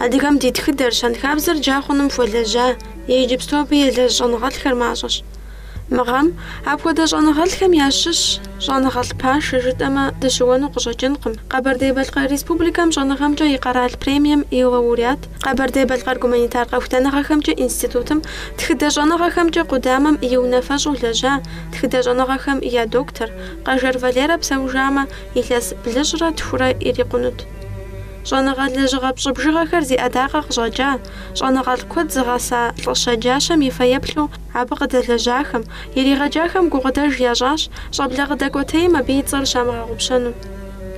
Адыгэм ди тхыдэр, щэнхабзэр джа хъуным хуэлэжьа иджыпсту абы елэжь щӏэныгъэлӏхэр мащӏэщ. Мы гъэм апхуэдэ щӏэныгъэлӏхэм ящыщ щӏэныгъэлӏ пашэ жытӏэмэ дыщыуэну къыщӏэкӏынкъым. Къэбэрдей-Балъкъэр Республикэм щӏэныгъэмкӏэ и къэрал премием и лауреат, Къэбэрдей-Балъкъэр гуманитар къэхутэныгъэхэмкӏэ институтым тхыдэ щӏэныгъэхэмкӏэ къудамэм и унафэщӏу лэжьа, тхыдэ щӏэныгъэхэм я доктор, Къэжэр Валерэ псэужамэ, илъэс блыщӏрэ тхурэ ирикъунут. Щӏэныгъэ лэжьыгъэ пщӏы бжыгъэхэр зи ӏэдакъэ къыщӏэкӏа, щӏэныгъэлӏ куэд зыгъэса лӏы щэджащэм и фэеплъу, Абы къыдэлэжьахэм, иригъэджахэм гукъыдэж ящӏащ щӏэблэ къыдэкӏуэтейм абы и цӏэр щамыгъэгъупщэну.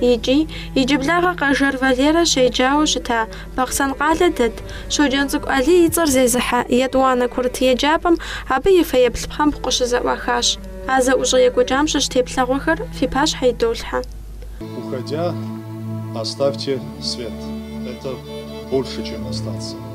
Икӏи, иджыблагъэ Къэжэр Валерэ щеджауэ щыта Бахъсэн къалэ дэт Щоджэнцӏыкӏу Алий и цӏэр зезыхьэ етӏуанэ курыт еджапӏэм абы и фэеплъ пхъэмбгъу къыщызэӏуахащ. А зэӏущӏэ екӏуэкӏам щыщ теплъэгъуэхэр фи пащхьэ идолъхьэ. Уходя, оставьте свет, это больше, чем остаться.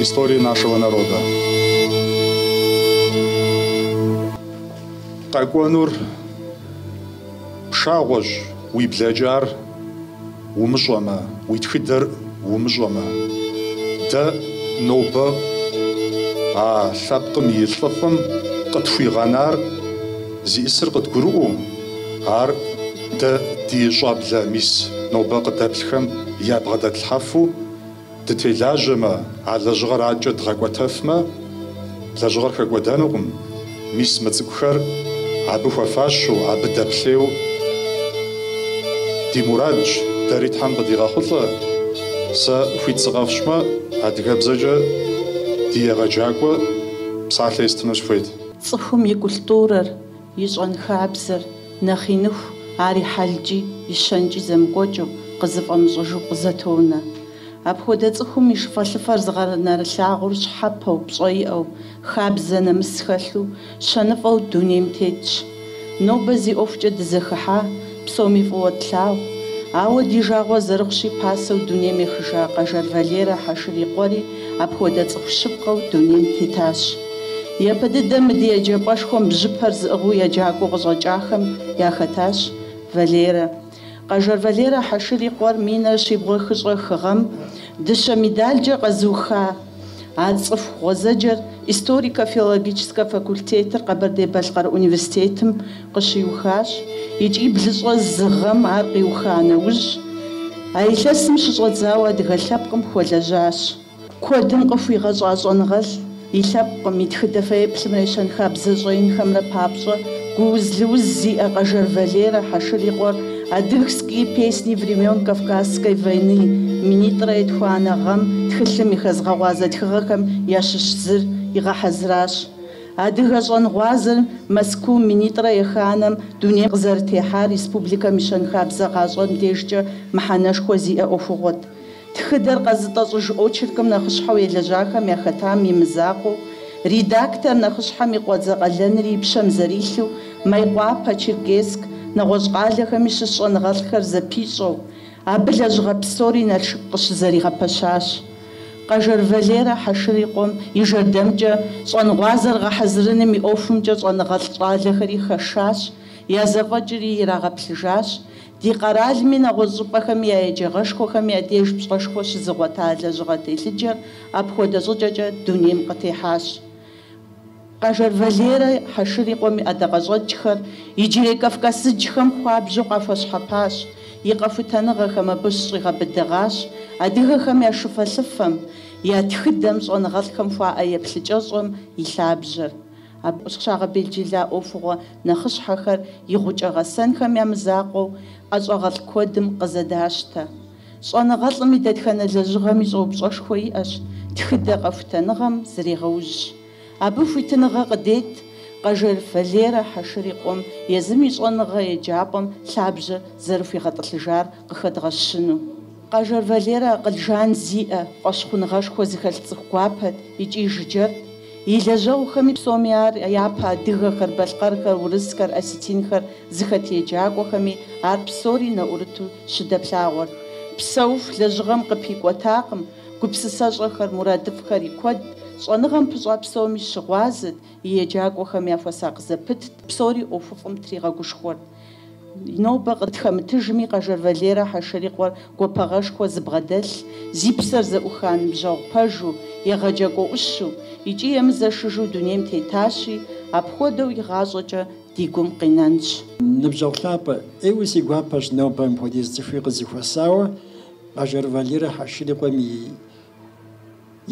истории нашего народа. Къэкӏуэнур пшагъуэщ, уи блэкӏар умыщӏэмэ, уи тхыдэр умыщӏэмэ. Дэ нобэ а лъэпкъым и лӏыфӏым къытхуигъэнар зиӏысыр къыдгурыӏуэу, ар дэ ди щӏэблэ мис нобэ къыдэплъхэм ябгъэдэтлъхьэфу, Дытелажьэмэ, а лэжьыгъэр адэкӏэ дгъэкӏуэтэфмэ, лэжьыгъэр хэкӏуэдэнукъым, мис мы цӏыкӏухэр абы хуэфащэу, абы дэплъейуэ ди мурадщ, дэри Тхьэм къыдигъэхъулӏэ, сэ хуит сыкъэфщӏмэ, адыгэбзэкӏэ ди егъэджакӏуэ псалъэ естыну сыхуейт. Цӏыхум и культурэр, И щэнхабзэр, нэхъ иныху, ар и хьэлкӏи, и щэнкӏи зэмыкӏуэкӏыу, къызыфӏэмыщӏыжу къызэтонэ. Апхуэдэ цӏыхум и шыфэлӏыфэр зыгъэнэрылъагъур щхьэпэу, пщӏэ иӏэу, хабзэ нэмыс хэлъу, щэныфӏэу дунейм тетщ. Нобэ зи ӏуэхукӏэ дызэхыхьа, Псоми фӏыуэ тлъагъу, ауэ ди жагъуэ зэрыхъущи, пасэу дунейм ехыжа Къэжэр Валерэ Хьэшыр и къуэри апхуэдэ цӏыху щыпкъэу дунейм тетащ. Япэ дыдэм мы ди еджапӏэшхуэм бжьыпэр зыӏыгъыу еджакӏуэу къыщӏэкӏахэм яхэтащ Валерэ. Къэжэр Валерэ Хьэшыр и къуэр минрэ щибгъурэ хыщӏрэ хы гъэм дыщэ медалкӏэ къэзыуха А цӏыху гъуэзэджэр историко-филологическэ факультетыр Къэбэрдей-Балъкъэр университетым къыщиухащ икӏи блыщӏэ зы гъэм ар къиуха нэужь, а илъэсым щыщӏэдзауэ адыгэ лъэпкъым хуэлэжьащ. Куэдым къыхуигъэщӏа щӏэныгъэлӏ и лъэпкъым, и тхыдэ фэеплъымрэ и щэнхабзэ щӏэинхэмрэ папщӏэ, Гууз-лыуз зиӏэ Къэжэр Валерэ Хьэшыр и къуэр Адыгские песни времен Кавказской войны минитӏрэ етхуанэ гъэм тхылъым и хэзгъэгъуазэ тхыгъэхэм ящыщ зыр игъэхьэзыращ. Адыгэ щӏэнгъуазэр Мэзкуу минитӏрэ еханэм дунейм къызэрытехьар республикэм и щэнхабзэ гъащӏэм дежкӏэ мыхьэнэшхуэ зиӏэ ӏуэхугъуэт. Тхыдэр къэзытӏэщӏыж очеркым нэхъыщхьэу елэжьахэм яхэтам и мызакъуэу, редактор нэхъыщхьэм и къуэдзэ къалэнри и пщэм зэрилъу, Мейкъуапэ, Черкесск, нэгъуэщӏ къалэхэми щыщ щӏэныгъэлӏхэр зэпищӏэу, абы лэжьыгъэ псори Налшык къыщызэригъэпэщащ. Къэжэр Валерэ Хьэшыр и къуэм и жэрдэмкӏэ щӏэнгъуазэр гъэхьэзырыным и ӏуэхумкӏэ щӏэныгъэлӏ щӏалэхэри хэшащ, я зэфӏэкӏри ирагъэплъыжащ, Ди къэралми нэгъуэщӏ щӏыпӏэхэми я еджагъэшхуэхэм я деж пщӏэшхуэ щызыгъуэта лэжьыгъэ телъыджэр апхуэдэ щӏыкӏэкӏэ дунейм къытехьащ. Къэжэр Валерэ Хьэшыр и къуэм и ӏэдакъэщӏэкӏхэр иджырей кавказыджхэм хуабжьу къахуэщхьэпащ, и къэхутэныгъэхэм абы щӏигъэбыдэгъащ, адыгэхэм я шыфэлъыфэм, я тхыдэм, щӏэныгъэлӏхэм хуаӏэ еплъыкӏэщӏэм и лъабжьэр. Абы щагъэбелджыла ӏуэхугъуэ Нэхъыщхьэхэр и гъукӏэ гъэсэнхэм я мызакъуэу ӏэщӏагъэлӏ куэдым къызэдащтэ. Щӏэныгъэлӏым и дэтхэнэ лэжьыгъэми щӏэупщӏэшхуэ иӏэщ, тхыдэ къэхутэныгъэм зрегъэужь. Абы хуитыныгъэ къыдет Къэжэр Валерэ Хьэшыр и къуэм езым и щӏэныгъэ еджапӏэм лъабжьэ зэрыхуигъэтӏылъыжар къыхэдгъэщыну. Къэжэр Валерэ акъыл жан зиӏэ, фӏэщхъуныгъэшхуэ зыхэлъ цӏыху гуапэт икӏи жыджэрт. И лэжьэгъухэми псоми ар япэ адыгэхэр, балъкъэрхэр, урысхэр, осетинхэр зыхэт еджакӏуэхэми ар псори нэӏурыту щыдэплъагъуэрт. Псэуху лэжьыгъэм къыпикӏуэтакъым, гупсысэщӏэхэр, мурадыфӏхэри куэдт, щӏэныгъэм пыщӏа псоми щыгъуазэт, и еджакӏуэхэм яхуэсакъ зэпытт, псори ӏуэхуфӏым тригъэгушхуэрт. Нобэ къытхэмытыжми, Къэжэр Валерэ Хьэшыр и къуэр гуапагъэшхуэ зыбгъэдэлъ, зи псэр зэӏуха ныбжьэгъу пэжу, егъэджакӏуэ ӏущу икӏи емызэшыжу дунейм тетащи, апхуэдэу игъащӏэкӏэ ди гум къинэнщ. Ныбжьэгъу лъапӏэ, ӏейуэ си гуапэщ нобэ мыпхуэдиз цӏыхуи къызэхуэсауэ Къэжэр Валерэ Хьэшыр и къуэм и.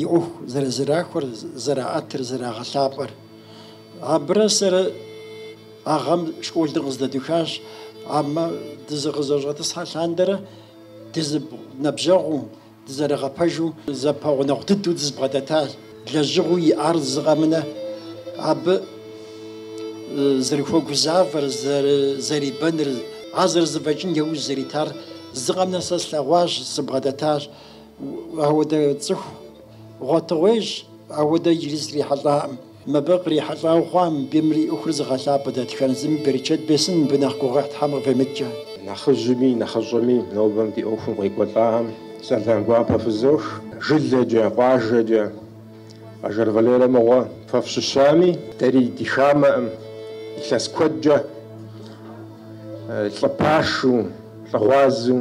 и ӏуэху зэрызэрахуэр, зэраӏэтыр, зэрагъэлъапӏэр. Абырэ сэрэ а гъэм школыр къыздэдухащ, амэ дызыкъызэщӏэтӏысхьэ лъандэрэ дызэныбжьэгъуу, дызэрыгъэпэжу зэпэгъунэгъу дыдэу дызбгъэдэтащ. Лэжьыгъэу иӏар зыкъэмынэ, абы зэрыхуэгузавэр, зэрибэныр, ар зэрызэфӏэкӏын яужь зэритар зыкъэмынэ сэ слъэгъуащ, сыбгъэдэтащ. Ауэдэ цӏыху гъуэтыгъуейщ ауэдэ иджыри срихьэлӏаӏым. Мыбы кърихьэлӏауэ хъуа мыбийм и ӏуэхур зыгъэлъапӏэ дэтхэнэ зыми берычэт бесын мыбы нэхъ гугъуехь Тхьэм къыфемыткӏэ. Нэхъыжьми нэхъыщӏэми нобэм ди ӏуэхум къекӏуэлӏаӏэм сэлам гуапэ фызох. Жылэкӏэ, къуажэкӏэ Къэжэр Валерэ мыгъуэ фэ фщыщами, дэри ди хамэӏым илъэс куэдкӏэ лӏы пашу, лӏы гъуазу,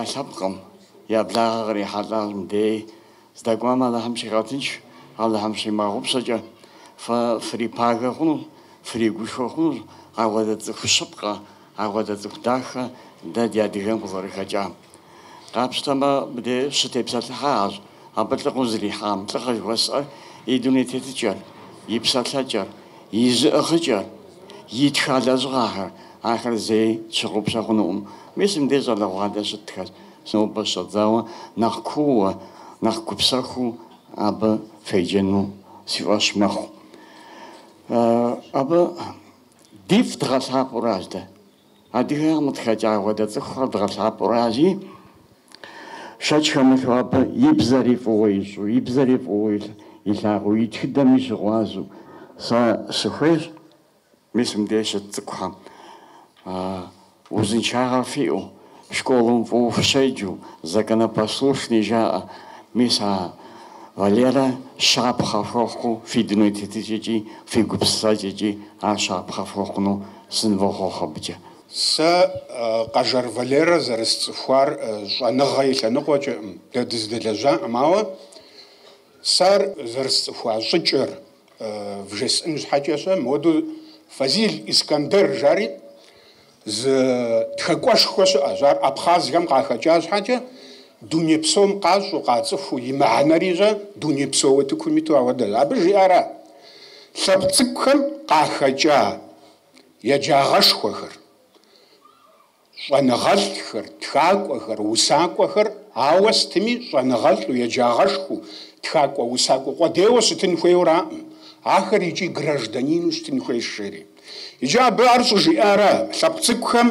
я лъэпкъым, я благъэ кърихьэлӏам дей. Здэкӏуам Алыхьым щигъэтынш, Алыхьым щимыгъэгъупщэкӏэ, фэ фрипагэ хъунущ, фригушхуэ хъунущ апхуэдэ цӏыху щыпкъэ, апхуэдэ цӏыху дахэ дэ ди адыгэм къызэрыхэкӏам. Къапщтэмэ, мыдей щытепсэлъыхьахэщ абы лӏыгъэу зэрихьам, лӏыгъэ жыхуэсӏэр и дуней тетыкӏэр, и псэлъэкӏэр, и зыӏыгъыкӏэр. Итха лэжьыгъэхэр, ахэр зэи тщыгъупщэ хъунукъым. Мис мыбдеж щӏалэгъуалэ щытхэр нобэ щыщӏэдзауэ нэхъ кууэ, нэхъ гупсэхуу абы феджэну си фӏэщ мэхъу. Абы дифӏ дгъэлъапӏэуращ дэ. Адыгэхэм къытхэкӏа апхуэдэ цӏыхухэр дгъэлъапӏэуращи, шэч хэмылъу абы и бзэри фӏыуэ ищӏу, и бзэри фӏыуэ илъагъуу, и тхыдэми щыгъуазэу, сэ сыхуейщ, мис мыбдеж щыт цӏыкӏухэм узыншагъэ фиӏэу, школым фӏыуэ фыщеджэу, законопослушный жаӏэ, мис а Валерэ щапхъэ фхуэхъуу фи дуней тетыкӏэкӏи, фи гупсысэкӏэкӏи ар щапхъэ фхуэхъуну сынвохъуэхъу абыкӏэ. Сэ Къэжэр Валерэ зэрысцӏыхуар щӏэныгъэ и лъэныкъуэкӏэкъым, дэ дыздэлэжьакъым, ауэ сэ ар зэрысцӏыхуа щӏыкӏэр вжесӏэн щхьэкӏэ щэ, моду Фазил Искандер жари зы тхакӏуэшхуэ щыӏэщ, ар абхъазхэм къахэкӏа щхьэкӏэ, дуней псом къащӏу, къацӏыхуу, и мыхьэнэри щэ дуней псо утыкум иту ауэдэщ. Абы жиӏара? Лъэпкъ цӏыкӏухэм къахэкӏа еджагъэшхуэхэр, щӏэныгъэлӏхэр, тхакӏуэхэр, усакӏуэхэр, ауэ стыми щӏэныгъэлӏу, еджагъэшхуэу, тхакӏуэ-усакӏуэ къудейуэ щытын хуейуэраӏым, ахэр икӏи гражданину щытын хуейщ жери. Иджы абы ар щӏыжиӏара? Лъэпкъ цӏыкӏухэм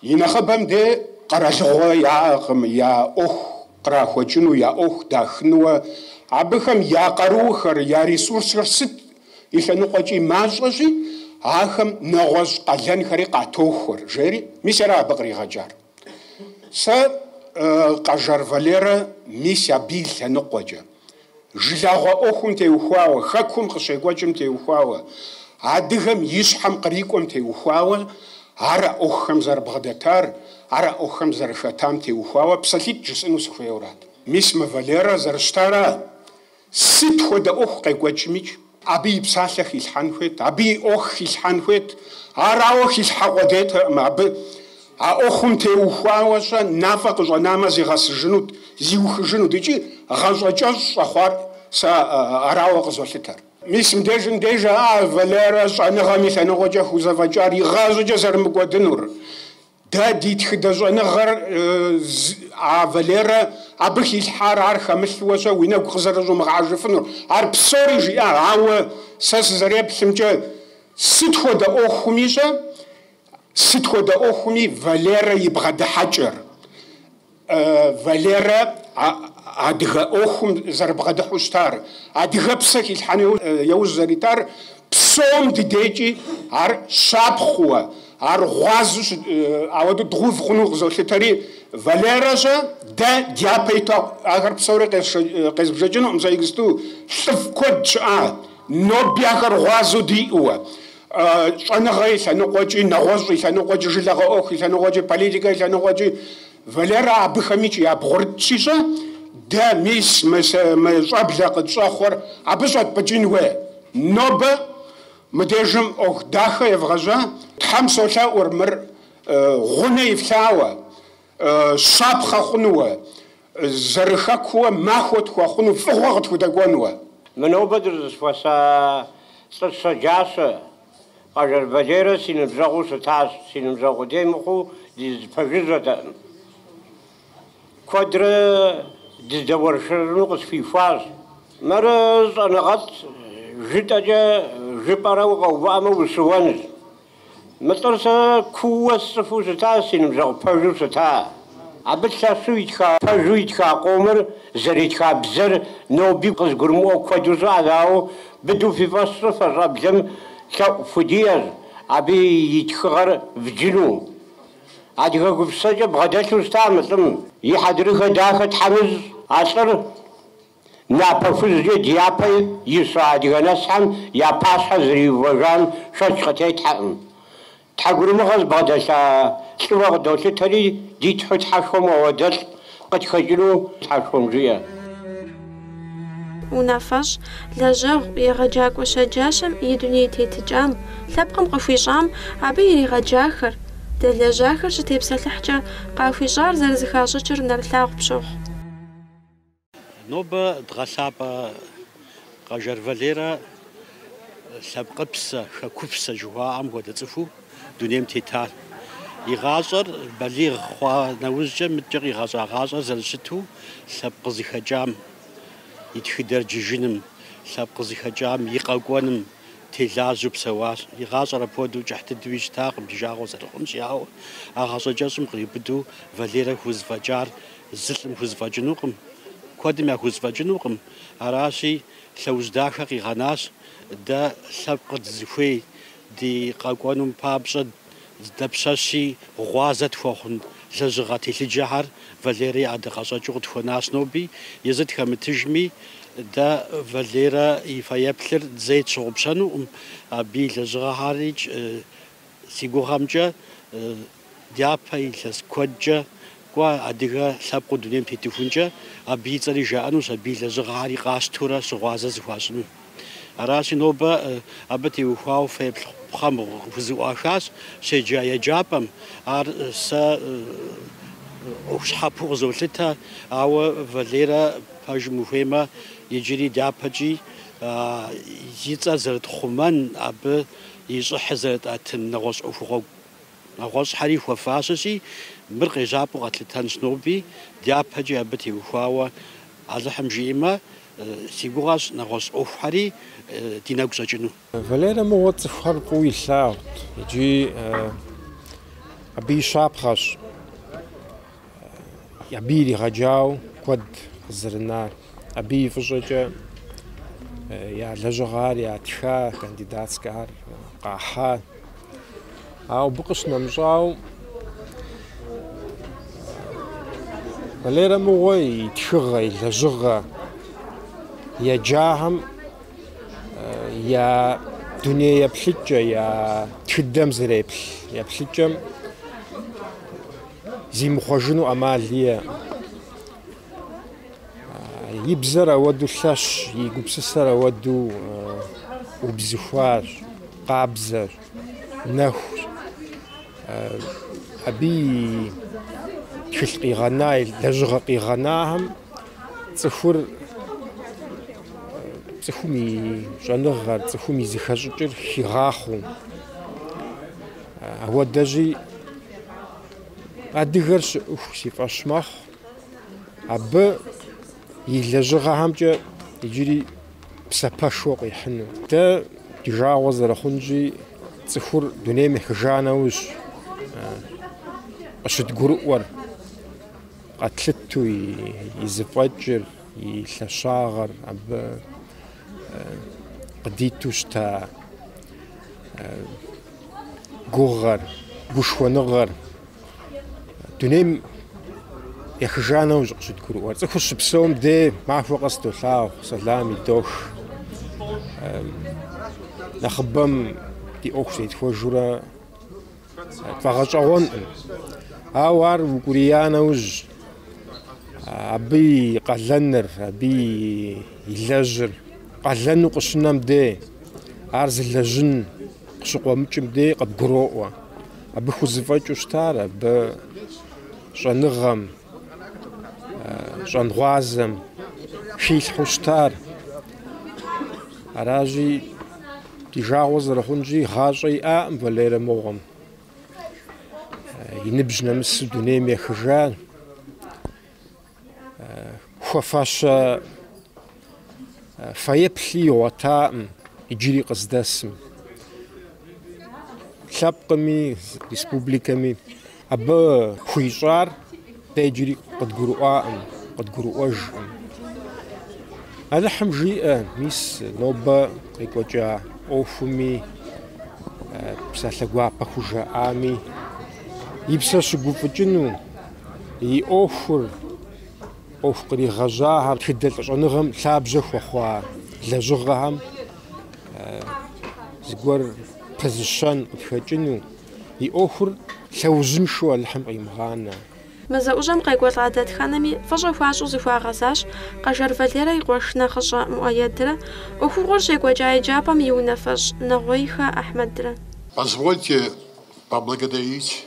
И нэхъыбэм де къэралыгъуэ яӏэкъым я ӏуэху кърахуэкӏыну, я ӏуэху дахынуэ. Абыхэм я къарухэр, я ресурсхэр сыт и лъэныкъуэкӏи мащӏэщи, ахэм нэгъуэщӏ къалэнхэри къатохуэр, жери. Мис ара абы къригъэкӏар? Сэ Къэжэр Валерэ мис абы и лъэныкъуэкӏэ. жылагъуэ ӏуэхум теухуауэ, хэкум къыщекӏуэкӏым теухуауэ, адыгэм и щхьэм кърикӏуэм теухуауэ, ар а ӏуэхухэм зэрыбгъэдэтар, ар а ӏуэхухэм зэрыхэтам теухуауэ псалъитӏ жысӏэну сыхуейуэрат. Мис мы Валерэ зэрыщытара сыт хуэдэ ӏуэху къекӏуэкӏмикӏ? Абы и псалъэ хилъхьэн хуейт, абы и ӏуэху хилъхьэн хуейт. Арауэ хилъхьэ къудейтэкъым абы. А ӏуэхум теухуауэ-щэ, нафӏэ къыщӏэнамэ, зигъэсыжынут, зиухыжынут икӏи гъащӏэкӏэщӏ щӏэхъуар сэ арауэ къызолъытэр. Мис мыбдежым деж а Валерэ щӏэныгъэм и лъэныкъуэкӏэ хузэфӏэкӏар игъащӏэкӏэ зэрымыкӏуэдынур. Дэ ди тхыдэ щӏэныгъэр а Валерэ абы хилъхьар ар хэмылъуэ-щэ уи нэгу къызэрыщӏумыгъэхьэжыфынур. Ар псори жиӏа, ауэ сэ сызэреплъымкӏэ, сыт хуэдэ ӏуэхуми-щэ, сыт хуэдэ ӏуэхуми Валерэ и бгъэдыхьэкӏэр. Валерэ адыгэ ӏуэхум зэрыбгъэдыхьу щытар, адыгэпсэ хилъхьэну яужь зэритар, псом ди дежкӏи ар щапхъуэ, ар гъуазу ауэду дгъэув хъуну къызолъытэри, Валерэ-щэ дэ дяпэ иту ахэр псори къезбжэкӏынукъым, сэ иджысту лӏыфӏ куэд щыӏа, ноби ахэр гъуазэу диӏууэ. щӏэныгъэ и лъэныкъуэкӏи, нэгъуэщӏ и лъэныкъуэкӏи, жылэгъэ ӏуэху и лъэныкъуэкӏи, политикэ и лъэныкъуэкӏи, Валерэ абыхэмикӏи ябгъурытщи-щэ, дэ мис мы щӏэблэ къытщӏэхъуэр абы щӏэтпӏыкӏын хуей. Нобэ мыдежым ӏуэху дахэ евгъэжьа, Тхьэм солъэӏур мыр гъунэ ифлъауэ, щапхъэ хъунууэ. Зэрыхэкууэ махуэ тхуэхъуну фӏыгъуэ къытхудэкӏуэнуэ. Мы нобэ дыщӏызэхуэса лӏы щэджащэ Къэжэр Валерэ си ныбжьэгъуу щытащ. Си ныбжьэгъу къудей мыхъуу дызэпэжыжьэтэкъым. Куэдрэ дыздэуэршэрыну къысхуихуащ. Мыр щӏэныгъэлӏ жытӏэкӏэ жыпӏэрэ укъэувыӏэмэ ущыуэнущ. Мы лӏыр сэ кууэ сцӏыхуу щытащ, си ныбжьэгъу пэжу щыта. Абы лъэщу итха пэжу итха къомыр, зэритха бзэр ноби къызыгурымыӏуэ куэду щыӏэщ, ауэ быдэу фи фӏэщ фщӏы, фэ щӏэблэм лъэӏу фхудиӏэщ абы и тхыгъэр вджыну. Адыгэ гупсысэкӏэ бгъэдэлъу щыта мы лӏым и хьэдрыхэ дахэ Тхьэм ищӏ а лӏыр. Напэ хужькӏэ дяпэ ища адыгэ нэсхьэм я пащхьэ зэриувэжам шэч къытетхьэкъым. Тхьэгурымыгъэ зыбгъэдэлъа лӏыуэ къыдолъытэри, ди тхьэу Тхьэшхуэм апхуэдэлӏ къытхэкӏыну Тхьэшхуэм жиӏэ. Унафэщӏ, лэжьэгъу, егъэджакӏуэ щэджащэм и дуней тетыкӏам, лъэпкъым къыхуищӏам абы иригъэджахэр, дэлэжьахэр щытепсэлъыхькӏэ къахуищӏар зэрызыхащӏыкӏыр нэрылъагъу пщохъу. Нобэ дгъэлъапӏэ Къэжэр Валерэ лъэпкъыпсэ, хэкупсэ жыхуаӏэм хуэдэ цӏыхуу дунейм тетар. И гъащӏэр балигъ хъуа нэужькӏэ мыткӏэ къигъэщӏа гъащӏэр зэрыщыту лъэпкъ къызыхэкӏам, и тхыдэр джыжыным, лъэпкъ къызыхэкӏам и къэкӏуэным, Телажьэу псэуащ. И гъащӏэр апхуэдэу кӏыхь дыдэуи щытакъым, ди жагъуэ зэрыхъунщи, ауэ а гъащӏэ кӏэщӏым къриубыдэу Валерэ хузэфӏэкӏар зы лӏым хузэфӏэкӏынукъым, куэдым яхузэфӏэкӏынукъым. Аращи, лъэужь дахэ къигъэнащ дэ лъэпкъыр дызыхуей ди къэкӏуэнум папщӏэ. Дапщэщи, гъуазэ тхуэхъун лэжьыгъэ телъыджэхэр Валерэ и ӏэдакъэщӏэкӏыу къытхуэнащ ноби. Езы тхэмытыжми, дэ Валерэ и фэеплъыр зэи тщыгъупщэнукъым. Абы и лэжьыгъэхэри, си гугъэмкӏэ, дяпэ илъэс куэдкӏэ Кӏуэ, адыгэ лъэпкъыу дунейм тетыхункӏэ, абы и цӏэри жаӏэнущ, абы и лэжьыгъэхьэри къащтурэ щыгъуазэ зыхуащӏыну. Аращи, нобэ абы теухуауэ фэеплъ пхъэмбгъу зэӏуахащ, щеджа еджапӏэм, ар сэ щхьэпэу къызолъытэ, ауэ Валерэ пэжым ухуеймэ, иджыри дяпэкӏи и цӏэр зэрытхъумэн, абы и щӏыхьыр зэрытӏэтын нэгъуэщӏ ӏуэхугъуэ гу. Нэгъуэщӏхэри хуэфащэщи, мыр къежьапӏэу къэтлъытэнщ ноби, дяпэкӏи абы теухуауэ Алыхьым жиӏэмэ, си гугъэщ нэгъуэщӏ ӏуэхухэри ди нэгу щӏэкӏыну. Валерэ мыгъуэ цӏыхухэр фӏыуэ илъагъут икӏи абы и щапхъэщ. Абы иригъэджауэ куэд къызэрынар, абы и фӏыщӏэкӏэ я лэжьыгъэр ятха, кандидатскэхэр къахьа. Ауэ абы къыщынэмыщӏауэ Валерэ мыгъуэ и тхыгъэ, и лэжьыгъэ еджахэм я дуней еплъыкӏэ, я тхыдэм зэреплъ еплъыкӏэм зимыхъуэжыну ӏэмал иӏэкъым. И бзэр ауэду лъэщщи, и гупсысэр ауэду убзыхуащ, къабзэщ, нэхущ. Абы и тхылъ къигъэна, и лэжьыгъэ къигъэнахэм цӏыхур, цӏыхум и щӏэныгъэр, цӏыхум и зыхэщӏыкӏыр хигъахъуэу. Ауэдэжьи адыгэр щыӏыху си фӏэщ мэхъу. Абы и лэжьыгъэхэмкӏэ иджыри псапэшхуэ къихьыну. Дэ ди жагъуэ зэрыхъунщи, цӏыхур дунейм ехыжа нэужь къыщыдгурыӏуэр, къэтлъыту и зыфӏэкӏыр, и лъэщагъыр абы къыдиту щыта гугъэр, гушхуэныгъэр дунейм ехыжа нэужь къыщыдгурыӏуэр. Цӏыхур щыпсэум дей махуэ къэс долъагъу, сэлам идох. Нэхъыбэм ди ӏуэху зетхуэжурэ тфӏэгъэщӏэгъуэнкъым. Ауэ ар укӏурия нэужь, абы и къалэныр, абы и лэжьыр къалэну къыщынэм дей, ар зылэжьын Къыщыкъуэмыкӏым дей къыбгуроӏуэ. Абы хузэфӏэкӏыу щытар абы щӏэныгъэм, щӏэнгъуазэм хилъхьэу щытар. Аращи, ди жагъуэ зэрыхъунщи, гъащӏэ иӏакъым Валерэ мыгъуэм. И ныбжь нэмысу дунейм ехыжар. Хуэфащэ фэеплъи игъуэтакъым иджыри къыздэсым. Лъэпкъми, республикэми абы хуищӏар дэ иджыри къыдгурыӏуакъым, къыдгурыӏуэжкъым. Алыхьым жиӏэ, мис нобэ къекӏуэкӏа ӏуэхуми, псалъэ гуапэ хужаӏами и псэр щыгуфӏыкӏыну, и ӏуэхур, ӏуэху къригъэжьахэр, тхыдэ щӏэныгъэм лъабжьэ хуэхъуа лэжьыгъэхэм зыгуэр пызыщэн къытхэкӏыну, и ӏуэхур лъэужьыншэу Алыхьым къимыгъанэ. Мы зэӏущӏэм къекӏуэлӏа дэтхэнэми фӏыщӏэ хуащӏу зыхуагъэзащ Къэжэр Валерэ и къуэш нэхъыщӏэ Муӏэедрэ, ӏуэхугъуэр щекӏуэкӏа еджапӏэм и унафэщӏ Нэгъуейхэ Ахьмэдрэ. Позвольте поблагодарить.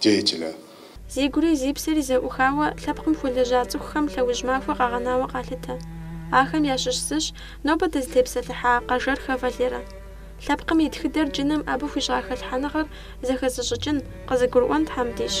деятелэ. Зи гури зи псэри зэӏухауэ лъэпкъым хуэлэжьа цӏыхухэм лъэужь махуэ къагъэнауэ къалъытэ. Ахэм ящыщ зыщ нобэ дызытепсэлъыхьа Къэжэрхэ Валерэ. Лъэпкъым и тхыдэр джыным абы хуищӏа хэлъхьэныгъэр зэхэзыщӏыкӏын, къызыгурыӏуэн Тхьэм дищӏ.